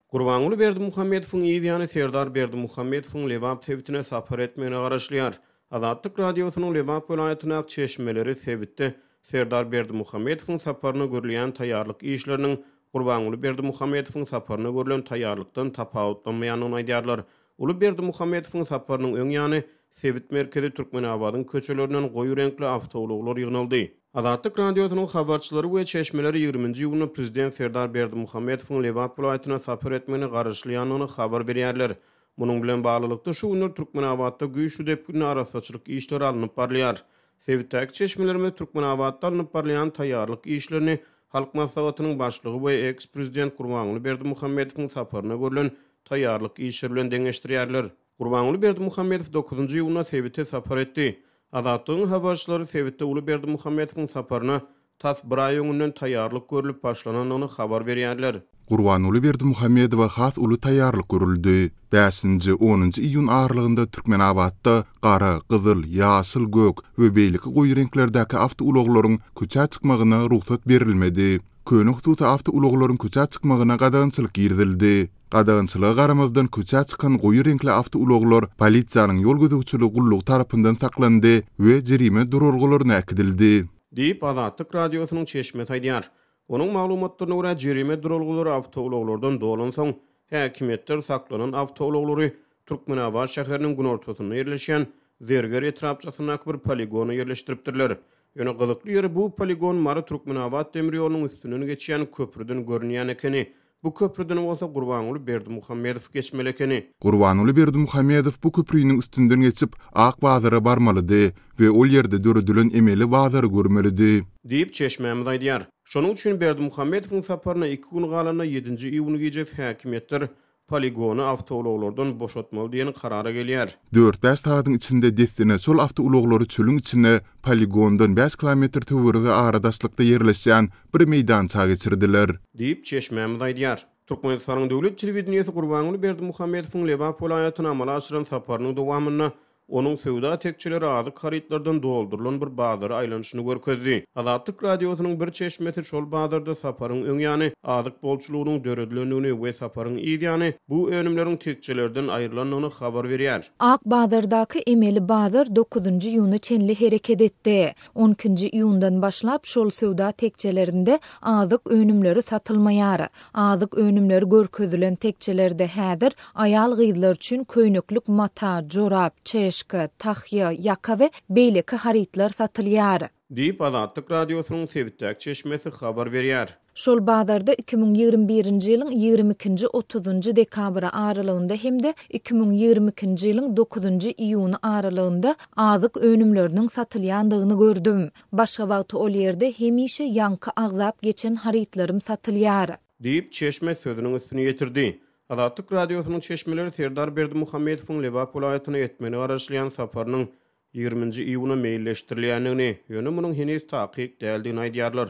Gurbanguly Berdimuhamedowyň yz ýany Serdar Berdimuhamedowyň Lebap sebitine sapar etmegine garaşylýar. Azatlyk Radiosynyň Lebap welaýatyndaky çeşmeleri sebitde Serdar Berdimuhamedowyň saparyna görülýän taýýarlyk işleriniň Gurbanguly Berdimuhamedowyň saparyna görlen taýýarlykdan tapawutlanmaýandygyny aýdýarlar. Uly Berdimuhamedowyň saparynyň öň ýany, sebit merkezi Türkmenabadyň köçelerinden goýy reňkli awtoulaglar ýygnaldy. Azatlyk Radiosynyň habarçylary we çeşmeleri ýigriminji iýunda prezident Serdar Berdimuhamedowyň Lebap welaýatyna sapar etmegine garaşylýandygyny habar berýärler. Munuň bilen baglylykda, şu günler Türkmenabatda güýçli depginde arassaçylyk işleri alnyp barylýar. Sebitdäki çeşmelerimiz Türkmenabatda alnyp barylýan taýýarlyk işlerini Halk Maslahatynyň Başlygy we eks-prezident Gurbanguly Berdimuhamedowyň saparyna görlen taýýarlyk işleri bilen deňeşdirýärler. Gurbanguly Berdimuhamedow dokuzynjy iýunda sebite sapar etdi. Azatlygyň habarçylary sebitde uly Berdimuhamedowyň saparyna tas bir aý öňünden taýýarlyk görlüp başlanandygyny habar berýärler. Gurbanguly Berdimuhamedowa has uly taýýarlyk görüldi. Bäşinji, onunjy iýun aralygynda Türkmenabatda gara, gyzyl, ýaşyl, gök we beýleki goýy reňklerdäki awtoulaglaryň köçä çykmagyna rugsat berilmedi. Köne hususy awtoulaglaryň köçä çykmagyna gadagançylyk girizildi. Gadagançylyga garamazdan köçä çykan goýy reňkli awtoulaglar polisiýanyň ýol gözegçiligi gullugy tarapyndan saklandy we jerime duralgalaryna äkidildi. Diýip, Azatlyk Radiosynyň çeşmesi aýdýar. Onuň maglumatlaryna görä, jerime duralgalary awtoulaglardan dolansoň, häkimiýetler saklanan awtoulaglary Türkmenabat şäheriniň günortasynda ýerleşýän Zerger etrapçasyndaky bir poligona ýerleşdiripdirler. Ýöne gyzykly ýeri bu poligon Mary Türkmenabat demir ýolunyň üstünden geçýän köprüden görünýän ekeni. Bu köprüden bolsa Gurbanguly Berdimuhamedow geçmeli ekeni. Gurbanguly Berdimuhamedow bu köpriniň üstünden geçip Ak bazara barmalydy we ol ýerde döredilen emeli bazary görmelidi. Diýip, çeşmämiz aýdýar. Şonuň üçin Berdimuhamedowyň saparyna iki gün galanda ýedinji iýun gijesi häkimiýetler poligony awtoulaglardan boşatmaly diýen karara gelýär. Dört-bäş sagadyň içinde dessine şol awtoulaglary çölüň içine poligondan bäş kilometr töweregi aradaşlykda ýerleşýän bir meýdança geçirdiler. Diýip, çeşmämiz aýdýar. Türkmenistanyň döwlet telewideniýesi Gurbanguly Berdimuhamedowyň Lebap welaýatyna amala aşyran saparynyň dowamynda Onuň söwda tekjeleri azyk harytlardan doldurylan bir bazara aýlanyşyny görkezdi. Azatlyk Radiosynyň bir çeşmesi şol bazarda Saparyň öň ýany azyk bolçulygynyň döredilendigini we Saparyň yz ýany bu önümleriň tekjelerden aýrylandygyny habar berýär. Ak bazardaky emeli bazar dokuzynjy iýuna çenli hereket etdi. On ikinji iýundan başlap şol söwda tekjelerinde azyk önümleri satylmaýar. Azyk önümleri görkezilen tekjelerde häzir aýal-gyzlar üçin köýneklik mata, jorap, çeşka, tahýa, ýaka we beýleki harytlar satylýar. Diýip, Azatlyk Radiosynyň sebitdäki çeşmesi habar berýär. Şol bazarda iki müň ýigrimi birinji ýylyň ýigrimi ikinji, otuzynjy dekabry aralygynda hem-de iki müň ýigrimi ikinji ýylyň dokuzynjy iýuny aralygynda azyk önümleriniň satylýandygyny gördüm. Başga wagty ol ýerde hemişe ýaňky agzap geçen harytlarym satylýar. Diýip, çeşme sözüniň üstüni ýetirdi. Azatlyk Radiosynyň çeşmeleri Serdar Berdimuhamedowyň Lebap welaýatyna etmegine garaşylýan saparynyň ýigriminji iýuna meýilleşdirilýändigini, ýöne munuň heniz takyk däldigini aýdýarlar.